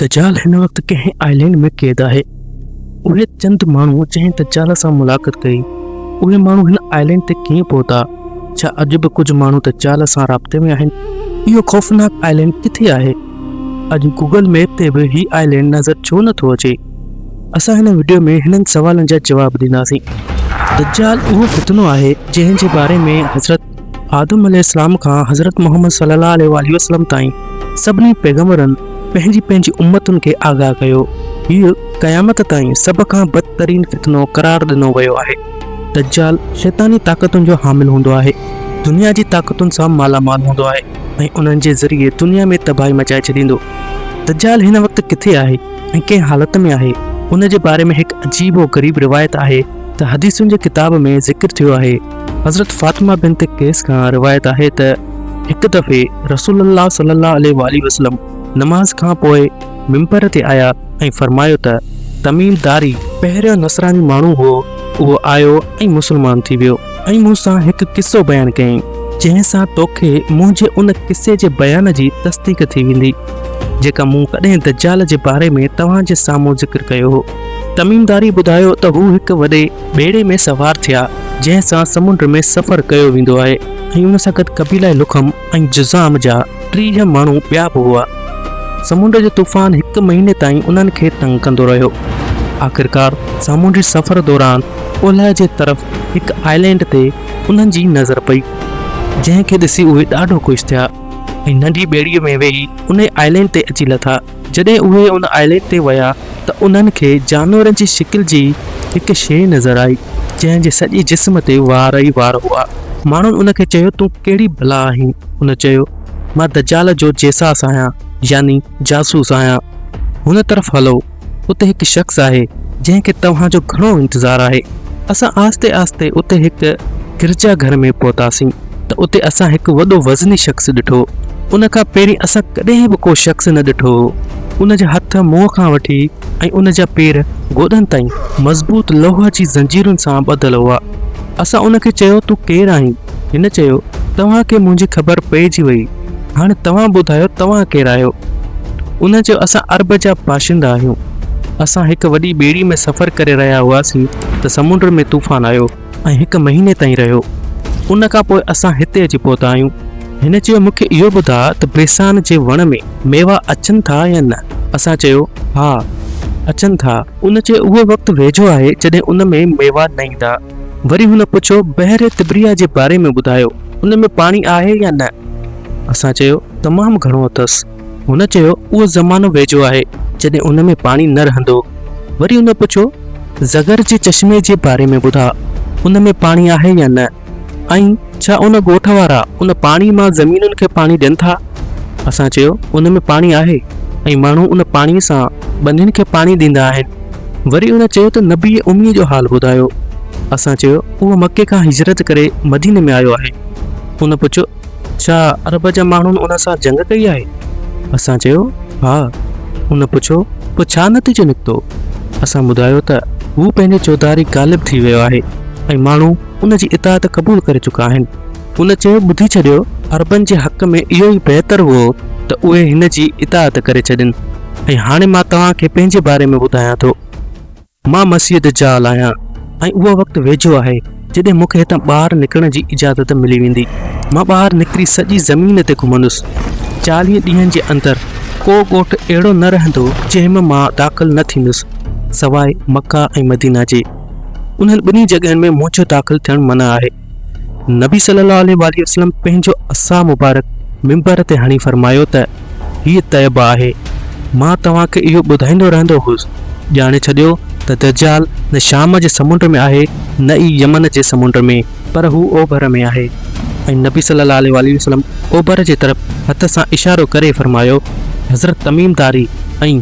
دجال هن وقت ڪنهن آئلينڊ ۾ قيد آهي. اهي چند ماڻهو جنهن دجال سان ملاقت ڪئي، اهي ماڻهو هن آئلينڊ تي ڪيئن پهتا؟ ڇا اڄ به ڪجهه ماڻهو دجال سان رابطي ۾ آهن؟ اهو خوفناڪ آئلينڊ ڪٿي آهي؟ اڄ گوگل ميپ تي به هي آئلينڊ نظر ڇو نه ٿو اچي؟ اسان هن وڊيو ۾ هنن سوالن جا جواب ڏينداسين. دجال اهو فتنو آهي جنهن جي باري ۾ حضرت آدم عليه السلام کان حضرت محمد صلّي الله عليه واٰله وسلّم تائين سڀني پيغمبرن پنهنجي پنهنجي امّتن کي آگاهه ڪيو. هيء قيامت تائين سڀ کان بدترين فتنو قرار ڏنو ويو آهي. دجّال شيطاني طاقتن جو حامل هوندو آهي، دنيا جي طاقتن سان مالا مال هوندو آهي ۽ انهن جي ذريعي دنيا ۾ تباهي مچائي ڇڏيندو. دجّال هن وقت ڪٿي آهي ۽ ڪنهن حالت ۾ آهي، ان جي باري ۾ هڪ عجيب و غريب روايت آهي ته حديثن جي ڪتاب ۾ ذڪر ٿيو آهي، حضرت فاطمه بنت قيس کان روايت آهي ته هڪ دفعي رسول الله صلي الله عليه وآله وسلم نماز کان پوء ممبر تي آيا ۽ فرمايو ته تميم داري پهريون نصراني ماڻهو هو اهو آيو ۽ مسلمان ٿي ويو ۽ مون سان هڪ قصو بيان ڪيائين جنهن سان توکي منهنجي ان قصي جي بيان جي تصديق ٿي ويندي جيڪا مون ڪڏهن دجال جي باري ۾ توهان جي سامهون ذڪر ڪيو هو تميم داري ٻڌايو ته هو هڪ وڏي ٻيڙي ۾ سوار ٿيا، جنهن سان سمنڊ ۾ سفر ڪيو ويندو آهي ۽ ان سان گڏ قبيله لخم ۽ جذام جا ٽيهه ماڻهو ٻيا به هئا. سمنڊ جو طوفان هڪ مهيني تائين انهن کي تنگ ڪندو رهيو. آخرڪار سامونڊي سفر دوران اولهه جي طرف هڪ آئلينڊ تي انهن جي نظر پئي، جنهن کي ڏسي اهي ڏاڍو خوش ٿيا ۽ ننڍي ٻيڙيء ۾ ويهي انهي آئلينڊ تي اچي لٿا. جڏهن اهي ان آئلينڊ تي ويا ته انهن کي جانورن جي شڪل جي هڪ شيء نظر آئي، جنهن جي سڄي جسم تي وار ئي وار هئا. ماڻهن ان کي چيو، تون ڪهڙي بلا آهين؟ هن چيو، مان دجال جو جيساس آهيان، يعني جاسوس آهيان. هن طرف هلو، اتي هڪ شخص آهي، جنهن کي توهان جو گهڻو انتظار آهي. اسان آهستي آهستي اتي هڪ گرجا گهر ۾ پهتاسين. ته اتي اسان هڪ وڏو وزني شخص ڏٺو. ان کان پهرين اسان ڪڏهن به ڪو شخص نه ڏٺو هو. ان جا هٿ منهن کان وٺي ۽ ان جا پير گوڏن تائين مضبوط لوهه جي زنجيرن سان ٻڌل هئا. اسان ان کي چيو، تون ڪير آهين؟ هن چيو، توهان کي منهنجي خبر پئجي وئي. هاڻي توهان ٻڌايو توهان ڪير آهيو؟ ان چيو، اسان عرب جا باشندا آهيون. اسان هڪ وڏي ٻيڙي ۾ سفر ڪري رهيا هئاسين ته سمنڊ ۾ طوفان آيو. ۽ هڪ مهيني تائين رهيو. ان کان پوء اسان هتي اچي پهتا آهيون. هن چيو، مون کي اهو ٻڌاء ته بيسان جي وڻ ۾ ميوا اچن ٿا يا نه؟ اسان چيو، ها، اچن ٿا. هن چيو، اهو وقت ويجهو آهي جڏهن ان ۾ ميوا نه ايندا. وري هن پڇيو، بحر طبريه جي باري ۾ ٻڌايو، ان ۾ پاڻي آهي يا نه؟ اسان چيو، تمام گهڻو اٿس. هن چيو، اهو زمانو ويجهو آهي، جڏهن ان ۾ پاڻي نه رهندو. وري هن پڇيو، زغر جي چشمي جي باري ۾ ٻڌاء، ان ۾ پاڻي آهي يا نه؟ ۽ ڇا ان ڳوٺ وارا ان پاڻي مان زمينن کي پاڻي ڏين ٿا؟ اسان چيو، ان ۾ پاڻي آهي ۽ ماڻهو ان پاڻي سان ٻنين کي پاڻي ڏيندا آهن. وري هن چيو ته نبيء اميء جو حال ٻڌايو. اسان چيو، اهو مڪي کان هجرت ڪري مديني ۾ آيو آهي. هن پڇيو، ڇا عرب جا ماڻهن ان سان جنگ ڪئي آهي؟ اسان چيو، ها. هن پڇيو، پوء ڇا نتيجو نڪتو؟ اسان ٻڌايو ته هو پنهنجي چوڌاري غالب ٿي ويو آهي ۽ ماڻهو ان جي اطاعت قبول ڪري چڪا آهن. هن چيو، ٻڌي ڇڏيو، عربن جي حق ۾ اهو ئي بهتر هئو ته اهي هن جي اطاعت ڪري ڇڏين ۽ هاڻي مان توهان کي پنهنجي باري ۾ ٻڌايان ٿو. مان مسيح دجال آهيان ۽ اهو وقت ويجهو آهي جڏهن مون کي هتان ٻاهر نڪرڻ جي اجازت ملي ويندي. مان ٻاهر نڪري سڄي زمين تي گهمندس. چاليهه ڏينهن جي اندر ڪو ڳوٺ اهڙو نه رهندو جنهن ۾ مان داخل نه ٿيندس سواء مڪه ۽ مدينه جي. انهن ٻنهي جڳهين ۾ منهنجو داخل ٿيڻ منع آهي. نبي صلي الله عليه واٰله وسلم پنهنجو عصا مبارڪ منبر تي هڻي فرمايو ته هيء طيبه آهي، مان توهان کي اهو ٻڌائيندو رهندو هوس، ڄاڻي ڇڏيو ته دجال نه شام جي سمنڊ ۾ آهي نه ئي يمن جي سمنڊ ۾ پر هو اوڀر ۾ آهي ۽ نبي صلي الله عليه واٰله وسلم اوڀر جي طرف هٿ سان اشارو ڪري فرمايو حضرت تميم داري ۽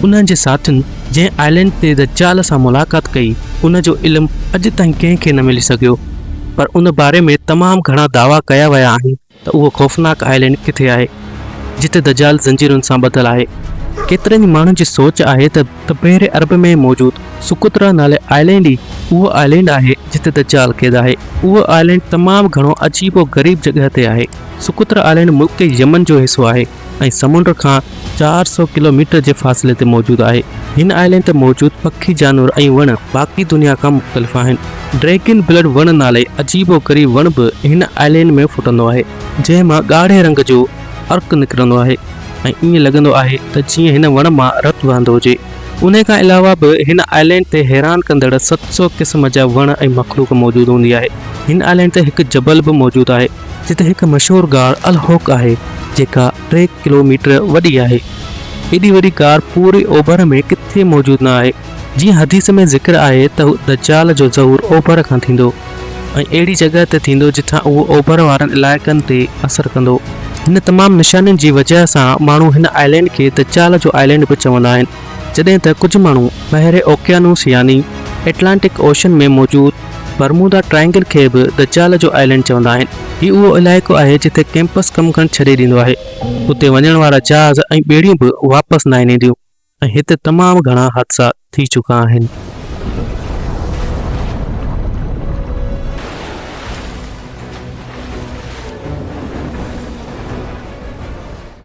انهن جي ساٿين جنهن آئلينڊ تي دجال سان ملاقات ڪئي، ان جو علم اڄ تائين ڪنهن کي نه ملي سگهيو، پر ان باري ۾ تمام گهڻا دعويٰ ڪيا ويا آهن ته اهو خوفناڪ آئلينڊ ڪٿي آهي، جتي دجال زنجيرن سان ٻڌل آهي. ڪيترن ئي ماڻهن جي سوچ آهي ته بحر عرب ۾ موجود سقطريٰ نالي آئلينڊ ئي اهو آئلينڊ آهي، جتي دجال قيد آهي. اهو آئلينڊ تمام گهڻو عجيب و غريب جڳهه تي آهي. سقطريٰ آئلينڊ ملڪ يمن جو حصو آهي. ۽ سمنڊ کان چار سؤ ڪلو ميٽر جي فاصلي تي موجود آهي. هن آئلينڊ تي موجود پکي، جانور ۽ وڻ باقي دنيا کان مختلف آهن. ڊريگن بلڊ وڻ نالي عجيب و غريب وڻ به هن آئلينڊ ۾ ڦٽندو آهي، جنهن مان ڳاڙهي رنگ جو عرق نڪرندو آهي ۽ ائين لڳندو آهي ته جيئن هن وڻ مان رت وهندو هجي. انهي کان علاوه به هن آئلينڊ تي حيران ڪندڙ ست سؤ قسم جا وڻ ۽ مخلوق موجود هوندي آهي. هن آئلينڊ تي هڪ جبل به موجود آهي. جتي هڪ مشهور غار الهوڪ آهي، جيڪا ٽي ڪلو ميٽر وڏي آهي. ايڏي وڏي غار پوري اوڀر ۾ ڪٿي موجود نه آهي. جيئن حديث ۾ ذڪر آهي ته دجال جو ظهور اوڀر کان ٿيندو ۽ اهڙي جڳهه تي ٿيندو جتان اهو اوڀر وارن علائقن تي اثر ڪندو. هن تمام نشانين جي وجهه سان ماڻهو هن آئلينڊ کي دجال جو آئلينڊ به چوندا آهن. جڏهن ته ڪجهه ماڻهو بحر اوقيانوس يعني ائٽلانٽڪ اوشن ۾ موجود برمودا ٽرائينگل کي به دجال جو آئلينڊ چوندا آهن. هي اهو علائقو آهي جتي ڪيمپس ڪم ڪرڻ ڇڏي ڏيندو آهي. اتي وڃڻ وارا جهاز ۽ ٻيڙيون به واپس ناهن اينديون ۽ هتي تمام گهڻا حادثا ٿي چڪا آهن.